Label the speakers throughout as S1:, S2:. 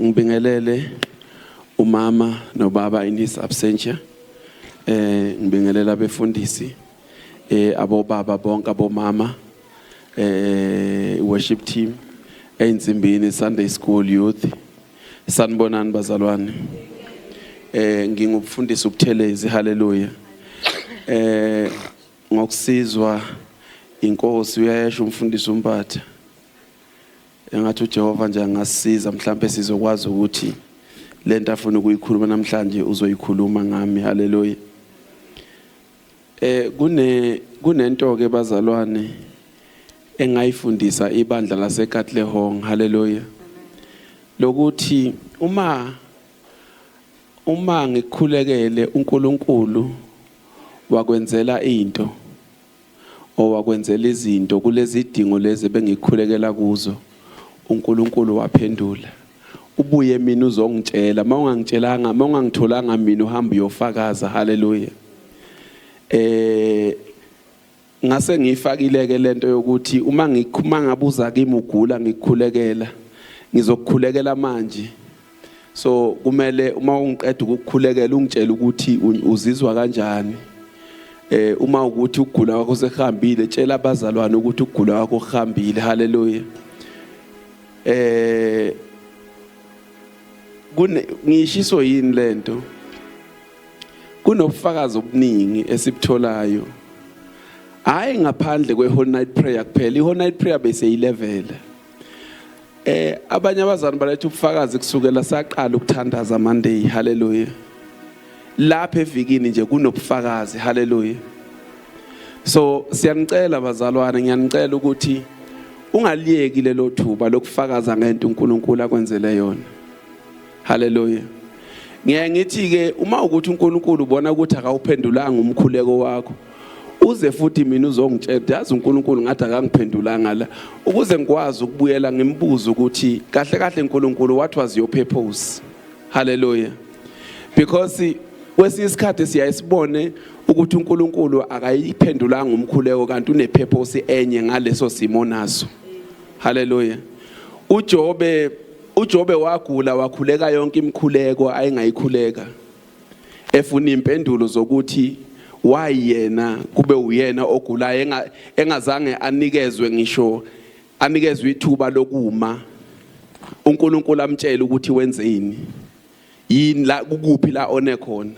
S1: Ngibingelele umama nobaba in his absentia. Eh ngibingelela abefundisi eh abobaba bonke abomama eh worship team einsimbini Sunday school youth. Sanibonani bazalwane. Eh ngingumfundisi uButhelezi haleluya. Eh ngokusizwa inkosi uyayesho umfundisi uMpatha Engathi uJehova nje angasisiza mhlampe sizokwazi ukuthi lento afuna ukuyikhuluma namhlanje uzoyikhuluma ngami haleluya eh kune kunento ke bazalwane engayifundisa ibandla laseKatlehong haleluya lokuthi uma uma ngikhulekele uNkulunkulu wakwenzela into owakwenzela izinto kulezidingo lezi ebengikhulekela kuzo. UNkulunkulu waphendula, Ubuye mina uzongitshela, uma ungangitshelanga, uma ungangitholanga mina uhamba uyofakaza. Haleluya. Eh ngase ngiyifakileke lento yokuthi uma ngikhuma ngabuza kimi ugula ngikhulekela ngizokukhulekela manje so kumele uma ungiqeda ukukhulekela ungitshela ukuthi uzizwa kanjani eh uma ukuthi ukugula kwakho sekuhambile tshela abazalwane ukuthi ukugula kwakho kuhambile haleluya eh kune ngishiso yini lento kunobufakazi obuningi esibutholayo hayi ngaphandle kwe whole night prayer kuphela i whole night prayer bese 11 Eh abanye abazali baletha ubufakazi kusukela saqala ukuthandaza Monday haleluya. Lapha evikini nje kunobufakazi haleluya. So siyanicela bazalwane ngiyanicela ukuthi ungaliyeki lelo thuba lokufakaza ngento uNkulunkulu akwenzele yona. Hallelujah. Ngeke ngithi ke uma ukuthi uNkulunkulu ubona ukuthi akawuphendulanga umkhuleko wakho uze futhi mina uzongitshela yazi uNkulunkulu ngathi akangiphendulanga la ukuze ngikwazi ukubuyela ngimbuze ukuthi kahle kahle uNkulunkulu what was your purpose hallelujah because kwesinye isikhathi siyaye sibone ukuthi uNkulunkulu akayiphendulanga umkhuleko kanti unepurpose enye ngaleso simo naso hallelujah uJobe UJobe wagula wakhuleka yonke imikhuleko ayengayikhuleka efuna impendulo zokuthi why yena kube uyena ogulayo engazange anikezwe ngisho anikezwe ithuba lokuma uNkulunkulu amtshela ukuthi wenzeni yini la kukuphi la one khona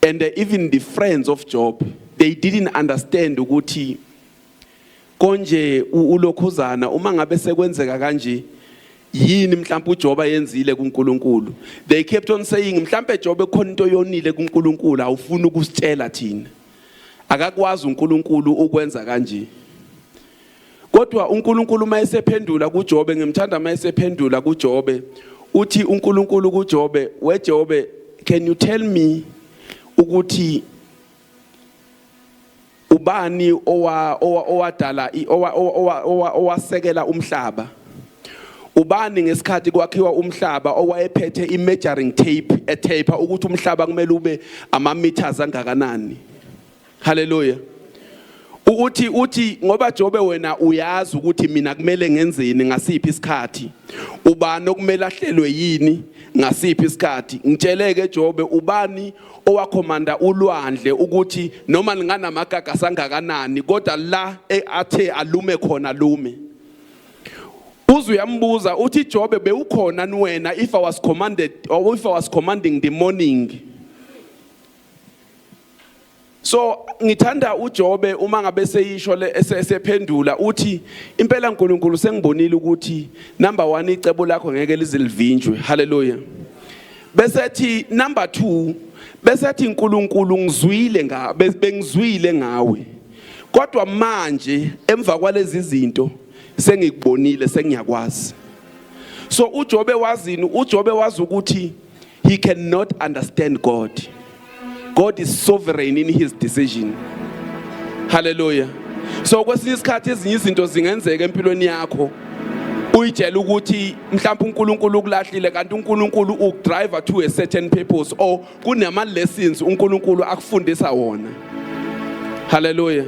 S1: and even the friends of Job they didn't understand ukuthi konje ulokhuzana uma ngabe sekwenzeka kanje yini mhlawumbe uJoba yenzile kuNkulunkulu they kept on saying mhlawumbe Jobe khona into yonile kuNkulunkulu awufuni ukusitshela thina akakwazi uNkulunkulu ukwenza kanje kodwa uNkulunkulu uma esephendula kuJobe ngimthanda uma esephendula kuJobe uthi uNkulunkulu kuJobe weJobe can you tell me ukuthi ubani owa- owa- owadala i- owa- owa- owa- owa- owasekela umhlaba ubani ngesikhathi kwakhiwa umhlaba owayephethe i-measuring tape etape ukuthi umhlaba kumele ube ama-meters angakanani haleluya U- uthi uthi ngoba jobe wena uyazi ukuthi mina kumele ngenzeni ngasiphi isikhathi ubani okumele ahlelwe yini ngasiphi isikhathi ngitsheleke jobe ubani owakhomanda ulwandle ukuthi noma linganamakaka sangakanani kodwa la e, athe alume khona lume uze uyambuza uthi Jobe bewukhona niwena if I was commanded or if I was commanding the morning So ngithanda uJobe uma ngabe seyisho le esephendula uthi impela uNkulunkulu sengibonile ukuthi number 1 icebo lakho ngeke lizilivinjwe haleluya bese ethi number 2 bese ethi uNkulunkulu ngizwile nga bengizwile ngawe kodwa manje emva kwalezi zinto sengikubonile sengiyakwazi so uJobe wazini uJobe wazi ukuthi He cannot understand God. God is sovereign in his decision. Hallelujah. So kwesinye isikhathi ezinye izinto zingenzeka empilweni yakho. uyitshela ukuthi mhlawumbe uNkulunkulu ukulahlile kanti uNkulunkulu ukudrive to a certain purpose or kunama lessons uNkulunkulu akufundisa wona haleluya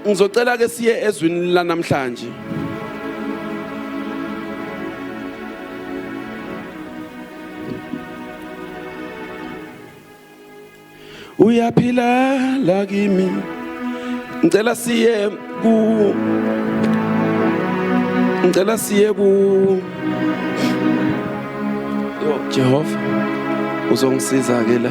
S1: Ngizocela ke siye ezwini lanamhlanje. Uyaphila la kimi. Ngicela siye ku Ngicela siye ku Yo Jehova uzongisiza ke la.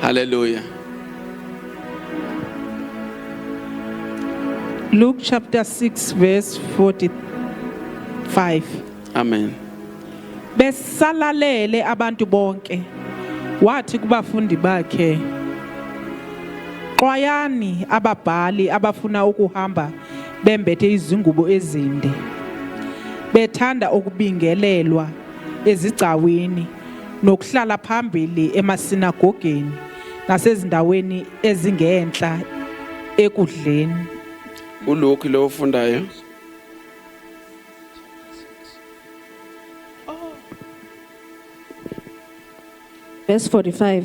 S1: Hallelujah. Luke chapter 6
S2: verse 45. Amen.
S1: Besalalele
S2: abantu bonke. Wathi kubafundi bakhe Xwayani ababhali abafuna ukuhamba bembethe izingubo ezinde bethanda ukubingelelwa ezigcawini nokuhlala phambili emasinagogeni nasezindaweni ezingenhla ekudleni
S1: uLuke lo ofundayo
S3: verse 45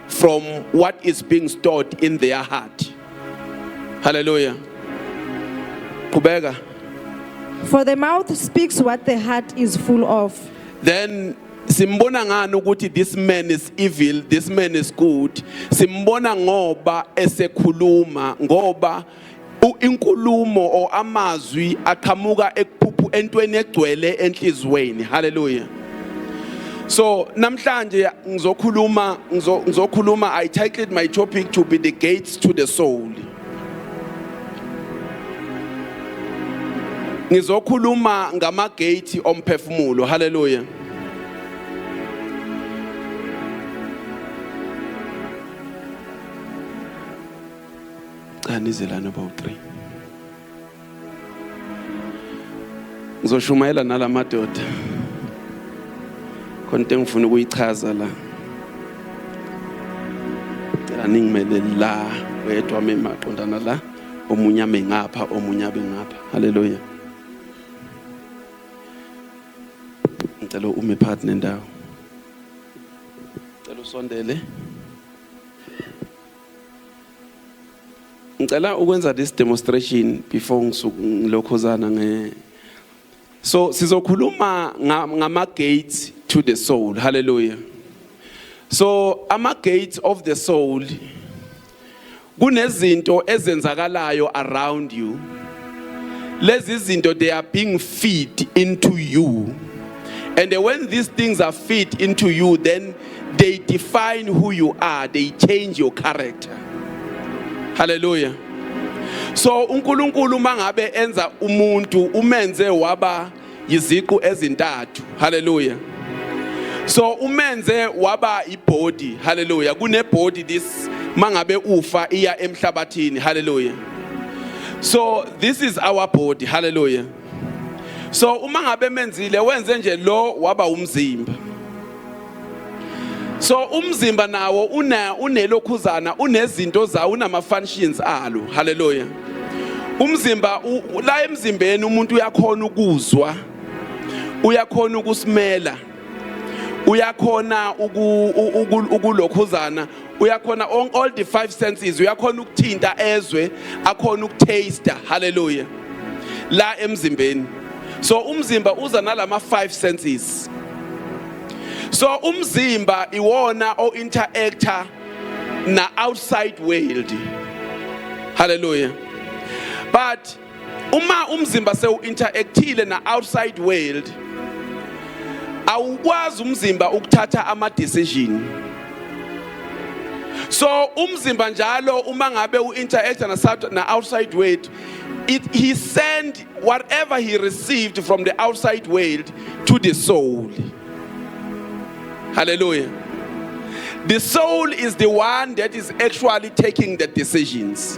S1: from what is being stored in their heart. Hallelujah. Kubeka.
S3: For the mouth speaks what the heart is full of. Then
S1: simbona ngani ukuthi this man is evil this man is good simbona ngoba esekhuluma ngoba inkulumo or amazwi aqhamuka ekuphuphu entweni egcwele enhlizweni haleluya so namhlanje ngizokhuluma ngizokhuluma i titled my topic to be the gates to the soul ngizokhuluma ngama gate omphefumulo haleluya Cha nize lana bawu-3. Ngizoshumayela nala madoda. Khona into engifuna ukuyichaza la. Cela ningimele la wedwa memaqondana la. Omunye ame ngapha, omunye abe ngapha. Haleluya. Ngicela ume phakathi nendawo. Ngicela usondele. ngicela ukwenza this demonstration before ngilokhozana nge so sizokhuluma ngama gates to the soul hallelujah so ama gates of the soul kunezinto ezenzakalayo around you lezi zinto they are being feed into you and when these things are feed into you then they define who you are they change your character hallelujah so uNkulunkulu mangabe enza umuntu umenze waba yiziqu ezintathu hallelujah so umenze waba ibody hallelujah kune body this mangabe ufa iya emhlabathini hallelujah so this is our body hallelujah so uma ngabe menzile wenze nje lo waba umzimba so umzimba nawo una unelokhuzana unezinto zawo unama functions alo haleluya umzimba la emzimbeni umuntu uyakhona ukuzwa uyakhona ukusimela uyakhona ukulokhuzana uyakhona on all the five senses uyakhona ukuthinta ezwe akhona ukutaster hallelujah la emzimbeni so umzimba uza nalama five senses so umzimba iwona o interactor na outside world hallelujah but uma umzimba sewu-interactile na-outside world awukwazi umzimba ukuthatha ama-decision so umzimba njalo uma ngabe u-interacta na-outside world it, he sent whatever he received from the outside world to the soul hallelujah the soul is the one that is actually taking the decisions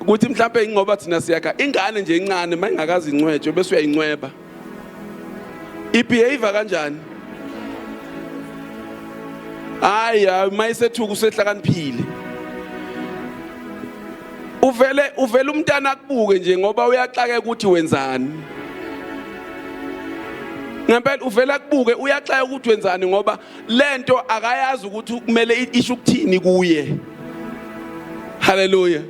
S1: ukuthi mhlawumbe ingoba thina siyakha ingane nje incane uma ingakazi incwetshwe bese uyayincweba ibehavior kanjani hayi uma isethuka usehlakaniphile uvele uvele umntana akubuke nje ngoba uyaxakeka ukuthi wenzani ngempela uvela kubuke uyaxaya ukuthi wenzani ngoba lento akayazi ukuthi kumele isho ukuthini kuye haleluya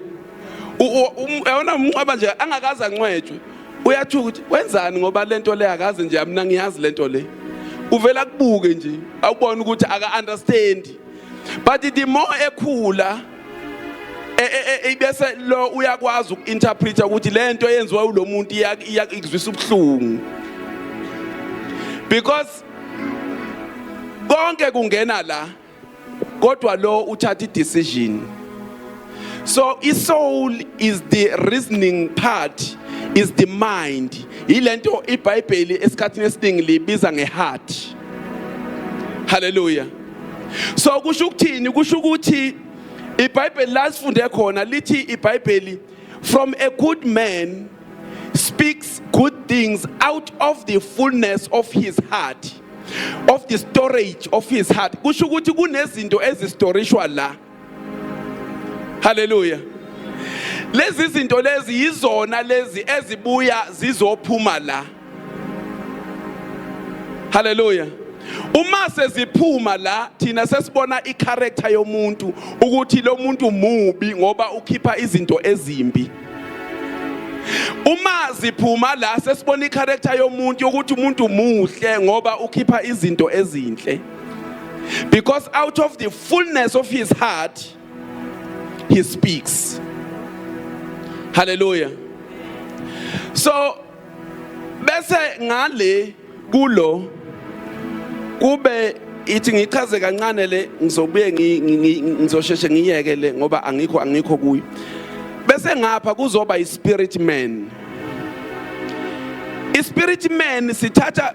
S1: yona umnqwaba nje angakaze ancwetshwe uyathuka ukuthi wenzani ngoba lento le akazi nje mina ngiyazi lento le uvela kubuke nje awubona ukuthi aka understand but the more ekhula e, e, e, ibese lo uyakwazi uku-interpreta ukuthi le nto eyenziwa ulo muntu ikuzwisa ubuhlungu because konke kungena la kodwa lo uthatha i-decision so i-soul is the reasoning part is the mind yilento ibhayibheli esikhathini esiningi libiza ngeheart haleluya so kusho ukuthini kusho ukuthi ibhayibheli la sifunde khona lithi ibhayibheli From a good man speaks good things out of the fullness of his heart of the storage of his heart kusho ukuthi kunezinto ezistorishwa la haleluya lezi zinto lezi yizona lezi ezibuya zizophuma la Hallelujah. Uma seziphuma la thina sesibona icharacter yomuntu ukuthi lo muntu mubi ngoba ukhipha izinto ezimbi. Uma ziphuma la sesibona icharacter yomuntu ukuthi umuntu muhle ngoba ukhipha izinto ezinhle. Because out of the fullness of his heart he speaks. Hallelujah. So bese ngale kulo kube ithi ngichaze kancane le ngizobuye ngizosheshe ngiyeke le ngoba angikho angikho kuyo bese ngapha kuzoba ispirit man ispirit man sithatha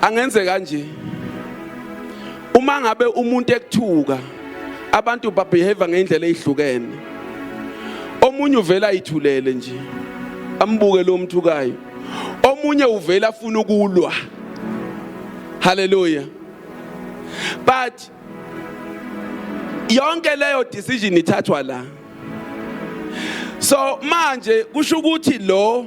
S1: angenze kanje uma ngabe umuntu ekuthuka abantu babehave ngendlela ezihlukene omunye uvela ayithulele nje ambuke lo mthukayo omunye uvela afuna ukulwa haleluya but yonke leyo decision ithathwa la so manje kusho ukuthi lo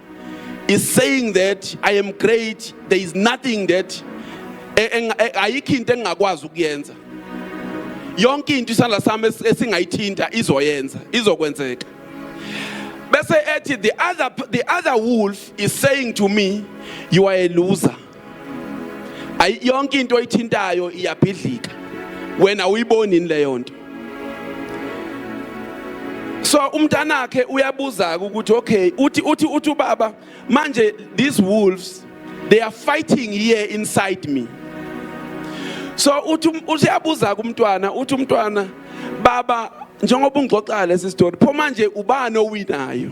S1: is saying that I am great, there is nothing that e, e, e, ayikho into engingakwazi ukuyenza. Yonke into isandla sami esingayithinta izoyenza, izokwenzeka. Bese ethi the other the other wolf is saying to me, you are a loser. ayi yonke into oyithintayo iyabhidlika wena uyiboni leyo nto so umntanakhe uyabuza ukuthi okay uthi uthi uthi ubaba manje these wolves they are fighting here inside me so uthi um, uyabuza kumntwana uthi umntwana baba njengoba ungixoxala lesi story pho manje ubani owinayo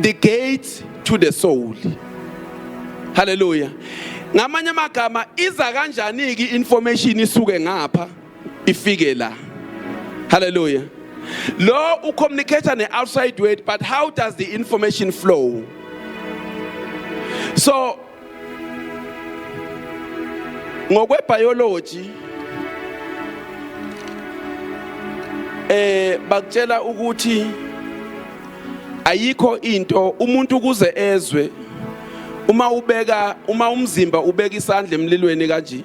S1: the gate to the soul haleluya ngamanye amagama iza kanjani ke information isuke ngapha ifike la haleluya lo u communicator ne outside world but how does the information flow so ngokwebiology eh bakutshela ukuthi ayikho into umuntu kuze ezwe uma ubeka uma umzimba ubeka isandla emlilweni kanje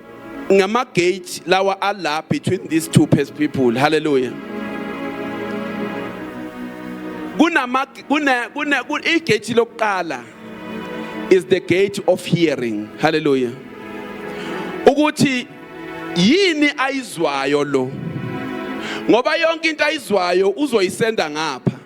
S1: ngama gate lawa ala between these two people hallelujah kunama kuna kuna igate lokuqala is the gate of hearing hallelujah ukuthi yini ayizwayo lo ngoba yonke into ayizwayo uzoyisenda ngapha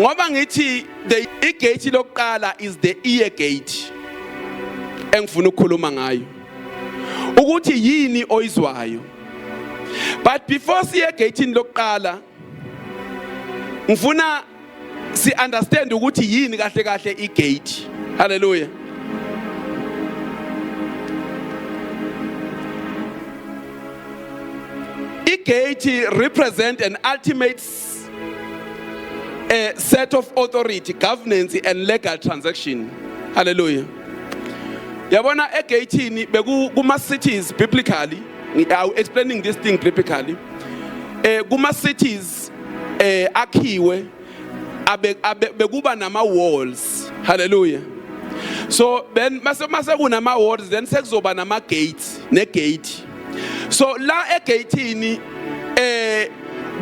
S1: ngoba ngithi the igate lokuqala is the ear gate engifuna ukukhuluma ngayo ukuthi yini oyizwayo but before siye egate lokuqala ngifuna si understand ukuthi yini kahle kahle igate haleluya igate represent an ultimate a set of authority governance and legal transaction haleluya yabona egatini beku kuma cities biblically i explaining this thing biblically eh kuma cities walls eh akhiwe abe bekuba nama walls hallelujah so then mase mase kunama walls then sekuzoba nama gates ne gate so la egatini eh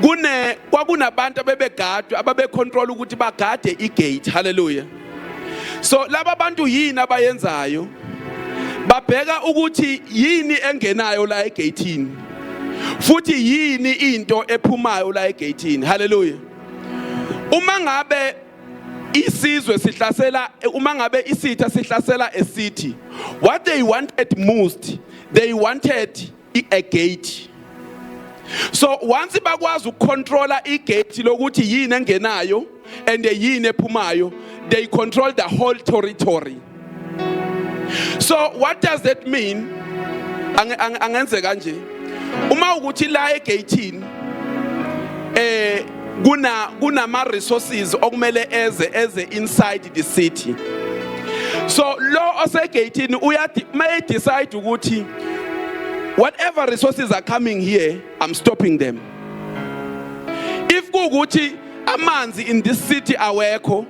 S1: kune kwakunabantu abebegadwe ababecontrol ukuthi bagade igate hallelujah so laba bantu yini abayenzayo babheka ukuthi yini engenayo la egeyithini futhi yini into ephumayo la egeyithini haleluya uma ngabe isizwe sihlasela uma ngabe isitha sihlasela esithi what they wanted most they wanted i-gate so once bakwazi ukucontrola igate lokuthi yini engenayo and yini ephumayo they control the whole territory so what does that mean angenze kanje uma ukuthi la egate eh kuna kunama resources okumele eze eze inside the city so lo osegeyithini uyathi may decide ukuthi whatever resources are coming here i'm stopping them if kukuthi amanzi in this city awekho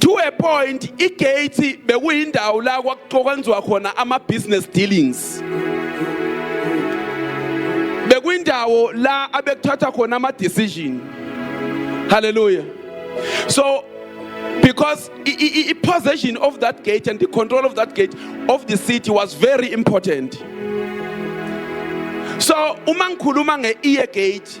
S1: to a point igate bekuyindawo la kwakwenziwa khona ama business dealings bekuyindawo la abekuthatha khona ama decision hallelujah so because the possession of that gate and the control of that gate of the city was very important so uma ngikhuluma nge-ear gate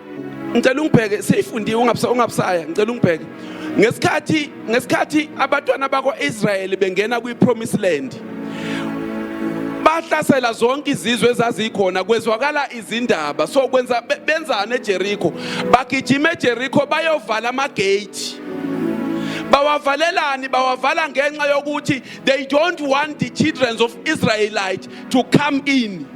S1: ngicela ungibheke seyifundiwe ungabusaya ngicela ungibheke ngesikhathi ngesikhathi abatwana bakwa-israyeli bengena kwi-promise land bahlasela zonke izizwe ezazikhona kwezwakala izindaba so kwenza benzani ejerikho bagijima ejerikho bayovala amagate bawavalelani bawavala ngenxa yokuthi they don't want the children of israelite to come in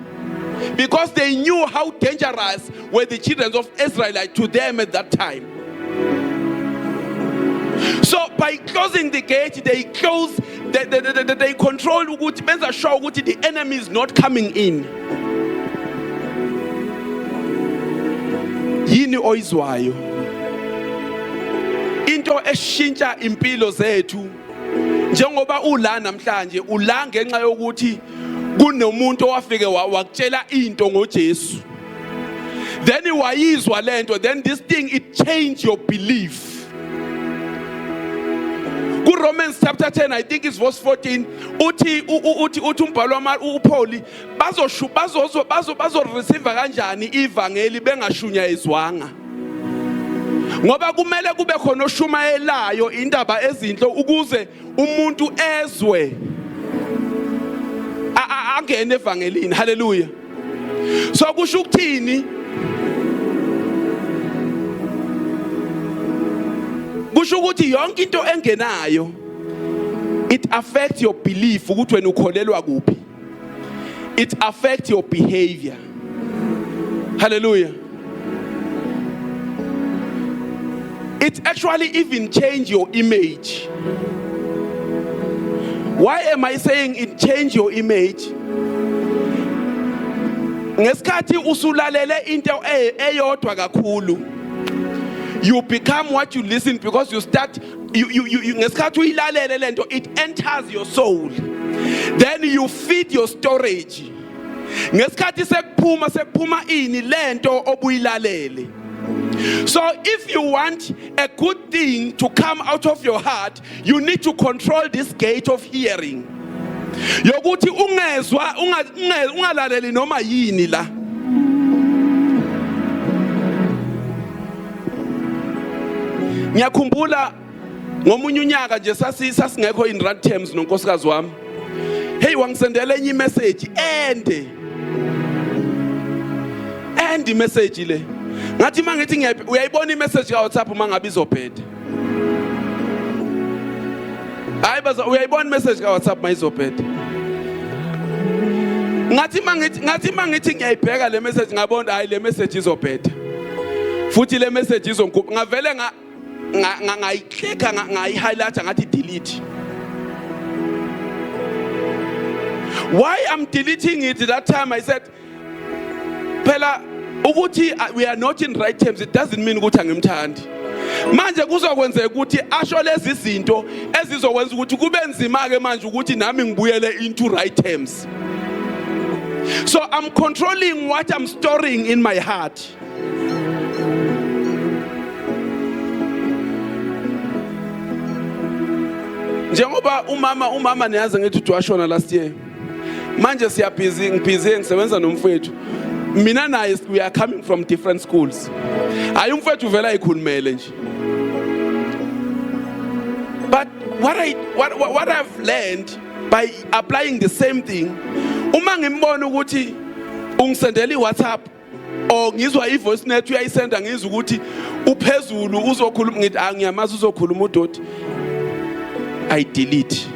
S1: because they knew how dangerous were the children of Israel to them at that time. So by closing the gate, they close, they, they, they, they, they control ukuthi benza sure ukuthi the enemy is not coming in. Yini oyizwayo? Into eshintsha impilo zethu njengoba ula namhlanje ula ngenxa yokuthi kunomuntu owafike wakutshela into ngoJesu. then wayizwa lento then this thing it changed your belief kuRomans chapter 10 I think it's verse 14 uthi uthi uthi umbhalo wama uPaul bazoshu bazozo bazo bazo receive kanjani ivangeli bengashunyayizwanga ngoba kumele kube khona oshumayelayo indaba ezinhle ukuze umuntu ezwe angene evangelini haleluya so kusho ukuthini kusho ukuthi yonke into engenayo it affects your belief ukuthi wena ukholelwa kuphi it affects your behavior. Hallelujah. It actually even change your image. Why am I saying it change your image? Ngesikhathi usulalele into e-, eyodwa kakhulu you become what you listen because you start you, you, you, ngesikhathi uyilalele lento it enters your soul then you feed your storage ngesikhathi sekuphuma sekuphuma ini lento obuyilalele so if you want a good thing to come out of your heart you need to control this gate of hearing yokuthi ungezwa ungalaleli noma yini la ngiyakhumbula ngomunye unyaka nje sasingekho in rand terms nonkosikazi wami hey wangisendela enye imessage ende ende imessage le ngathi mangithi ngiyayibona imessage ka WhatsApp uma ngabe izobheda hayi baza uyayibona imessage ka WhatsApp mayizobheda ngathi mangithi ngathi mangithi ngiyayibheka le message ngabona hayi le message izobheda futhi le message izongikhupha ngavele nga ngayiclicka ngayi-highlighta ngathi delete why i'm deleting it that time i said phela ukuthi uh, we are not in right terms it doesn't mean ukuthi angimthandi manje kuzokwenzeka ukuthi asho lezi zinto ezizokwenza ukuthi kube nzima ke manje ukuthi nami ngibuyele into right terms so i'm controlling what i'm storing in my heart njengoba umama umama niyazi ngithi uJoshua last year manje siyabhizi ngibhizi ngisebenza nomfwethu mina naye we are coming from different schools hayi umfwethu vele ayikhulumele nje but what I, what, what I've learned by applying the same thing uma ngimbona ukuthi ungisendela iWhatsApp Oh ngizwa i voice net uyayisenda ngizwa ukuthi uphezulu uzokhuluma ngithi angiyamazi ah, uzokhuluma udoti. I delete.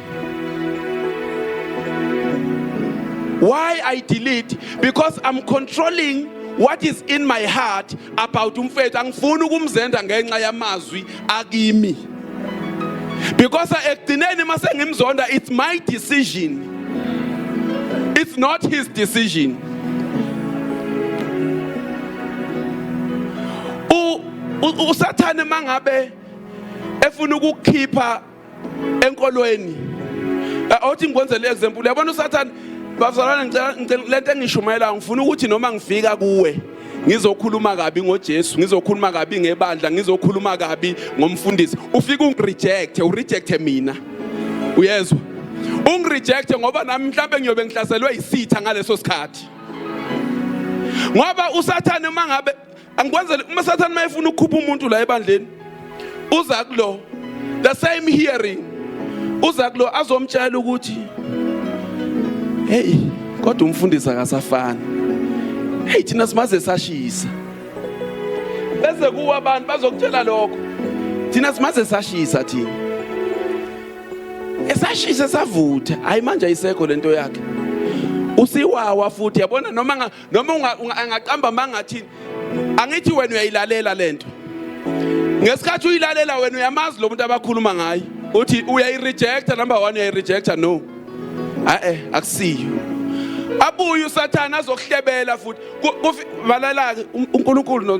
S1: Why I delete? Because I'm controlling what is in my heart about umfethu angifuni ukumzenda ngenxa yamazwi akimi because ekugcineni uma sengimzonda it's my decision it's not his decision usathane mangabe efuna ukukhipha enkolweni awuthi eh, ngikwenzele example uyabona usathane bazalwane ngicela le nto engishumayelayo ngifuna ukuthi noma ngifika kuwe ngizokhuluma kabi ngoJesu ngizokhuluma kabi ngebandla ngizokhuluma kabi ngomfundisi ufika ungirejecte urejecte mina uyezwa ungirejecte ngoba nami mhlawumbe ngiyobe ngihlaselwe yisitha ngaleso sikhathi ngoba usathane uma ngabe angikwenzele uma sathane mayefuna ukukhupha umuntu la ebandleni uza kulo the same hearing uza kulo azomtshela ukuthi hey kodwa umfundisi akasafani hey thina simaze sashisa bese kuwa abantu bazokutshela lokho thina simaze sashisa thina esashisa savutha hayi manje ayisekho lento yakhe usiwawa futhi yabona noma noma angaqamba amanga athini angithi wena uyayilalela lento ngesikhathi uyilalela wena uyamazi lo muntu abakhuluma ngaye uthi uyayirejecta number 1 uyayirejecta no a eh akusiyo abuye usathane azokuhlebela futhi balala uNkulunkulu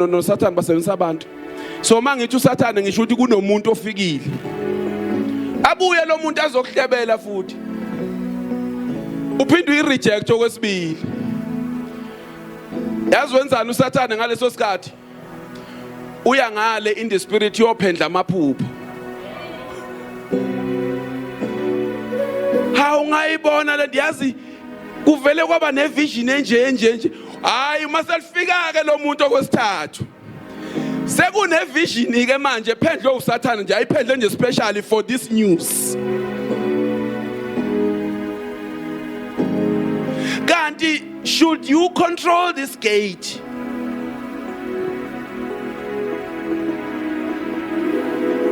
S1: noSathane basebenzisa abantu so mangithi usathane ngisho ukuthi kunomuntu ofikile abuye lo muntu azokuhlebela futhi uphinde uyireject okwesibili yazi wenzani usathane ngaleso sikhathi uya ngale in the spirit yophendla amaphupho ha ungayibona le ndiyazi kuvele kwaba nevision enje enje nje hayi uma selifika ke lo muntu okwesithathu sekune vision ke manje ephendlwe usathane nje ayiphendle nje specially for this news kanti should you control this gate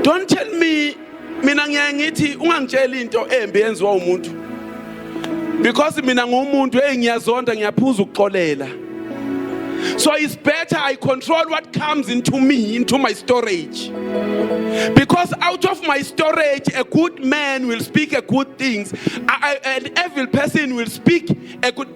S1: don't tell me mina ngiyaye ngithi ungangitsheli into embi yenziwa umuntu because mina ngumuntu hey ngiyazonda ngiyaphuza ukuxolela so it's better i control what comes into me into my storage because out of my storage a good man will speak a good things I, I, an evil person will speak a good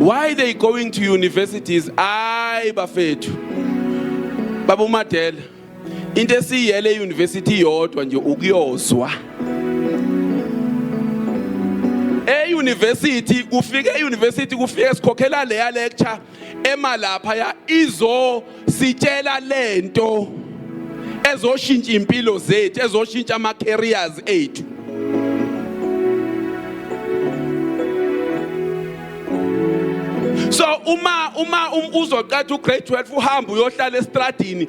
S1: why they going to universities ayi bafethu baba umadela into esiyele euniversity yodwa nje ukuyozwa euniversity kufike euniversity kufike sikhokhela leya lecture ema lapha ya izo sitshela lento ezoshintsha impilo zethu ezoshintsha ama careers ethu so uma uma um, uzoqatha ugrade 12 uhamba uyohlala estradini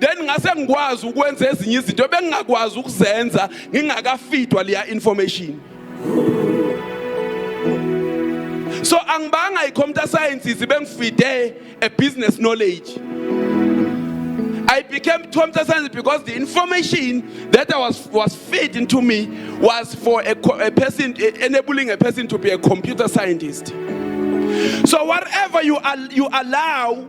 S1: then ngase ngikwazi ukwenza ezinye izinto ebengingakwazi ukuzenza ngingakafidwa leya information so angibanga i-computer sciences bengifide a business knowledge I became computer science because the information that I was, was fed into me was for a, a person, enabling a person to be a computer scientist. So whatever you, al- you allow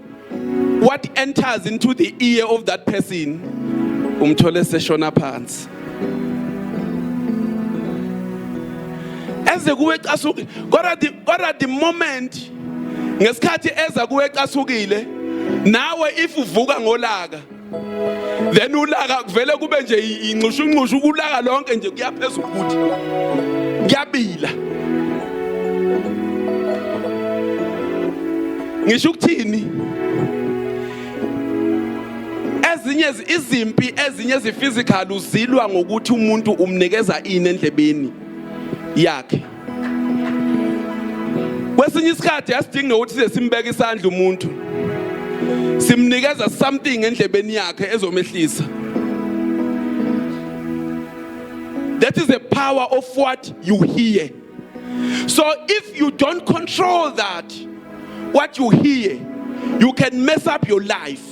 S1: what enters into the ear of that person umthole seshona phansi eze kuwe casuke kodwa the kodwa the moment ngesikhathi eza kuwe casuke nawe if uvuka ngolaka then ulaka kuvele kube nje inxushu inxushu ukulaka lonke nje kuyaphezulu ukuthi kuyabila ngisho ukuthini ezinye izimpi ezinye eziphysical uzilwa ngokuthi umuntu umnikeza ini endlebeni yakhe kwesinye isikhathi asidingi nokuthi size simbeke isandla umuntu simnikeza something endlebeni yakhe ezomehlisa that is the power of what you hear so if you don't control that what you hear you can mess up your life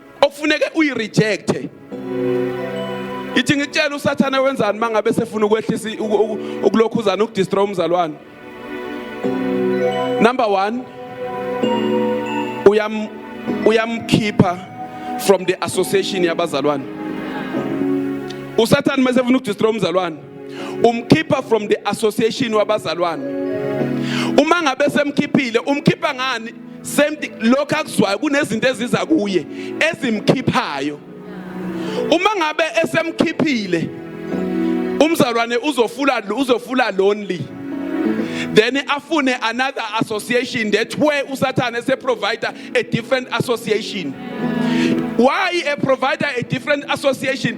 S1: okufuneke uyirejecte ithi ngitshela usathana wenzani mangabe sefuna ukwehlisa ukulokhuzana ukudestroy umzalwane number 1 uyam uyamkhipha from the association yabazalwane usathane mase ufuna ukudestroy umzalwane umkhipha from the association wabazalwane uma ngabe semkhiphile umkhipha ngani same thing lokho akuzwayo kunezinto eziza kuye ezimkhiphayo uma ngabe esemkhiphile umzalwane uzofula uzofula lonely then afune another association that way usathane se provider a different association why a provider a different association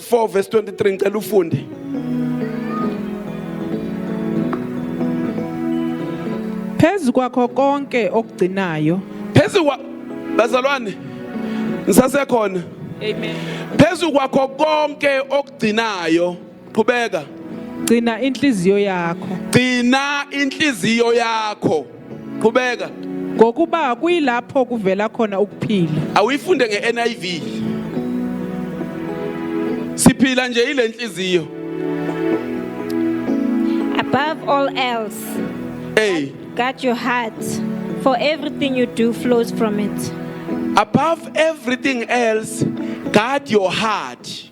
S1: 4 verse 23 ngicela ufunde
S2: phezu kwakho konke okugcinayo phezu kwa
S1: bazalwane ngisasekhona
S2: amen phezu kwakho
S1: konke okugcinayo qhubeka gcina
S2: inhliziyo yakho gcina
S1: inhliziyo yakho qhubeka ngokuba
S2: kuyilapho kuvela khona ukuphila awuyifunde nge-niv
S1: siphila nje yile nhliziyo
S4: above all else hey
S1: guard your
S4: heart for everything you do flows from it above
S1: everything else guard your heart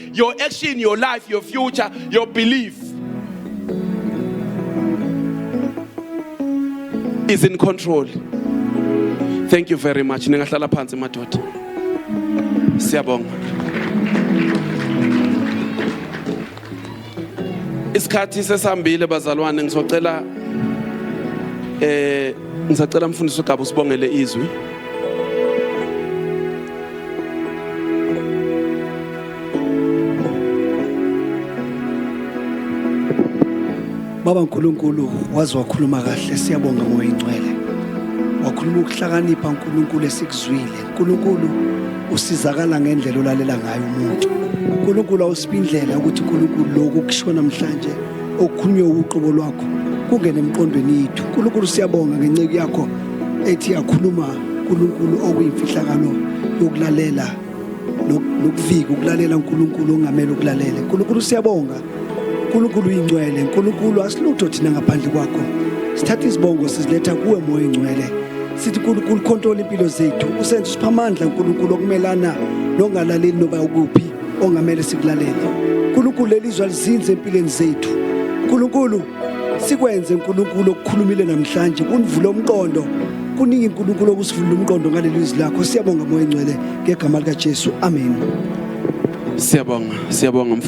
S1: your action your life your future your belief is in control thank you very much ningahlala phansi madoda siyabonga isikhathi sesambile bazalwane ngisocela eh Ngisacela mfundisi uGaba usibongele izwi.
S5: Baba uNkulunkulu waze wakhuluma kahle siyabonga moya ingcwele. Wakhuluma ukuhlakanipha uNkulunkulu esikuzwile. uNkulunkulu usizakala ngendlela olalela ngayo umuntu uNkulunkulu awusiphi indlela ukuthi uNkulunkulu lokhu kushiwo namhlanje okukhunywe uqobo lwakho kungene emqondweni yethu uNkulunkulu siyabonga ngenceku yakho ethi yakhuluma uNkulunkulu okuyimfihlakalo yokulalela nokuvika ukulalela uNkulunkulu ongamele ukulalele uNkulunkulu siyabonga uNkulunkulu uyingcwele uNkulunkulu asilutho thina ngaphandle kwakho sithatha izibongo siziletha kuwe moya ingcwele sithi uNkulunkulu control impilo zethu usenza usipha amandla uNkulunkulu okumelana nokungalaleli noba ukuphi ongamele sikulalele uNkulunkulu lelizwa lizinze empilweni zethu uNkulunkulu sikwenze uNkulunkulu okukhulumile namhlanje kunivule umqondo kuningi uNkulunkulu okusivula umqondo ngaleli lizwi lakho siyabonga moya engcwele ngegama lika Jesu amen siyabonga siyabonga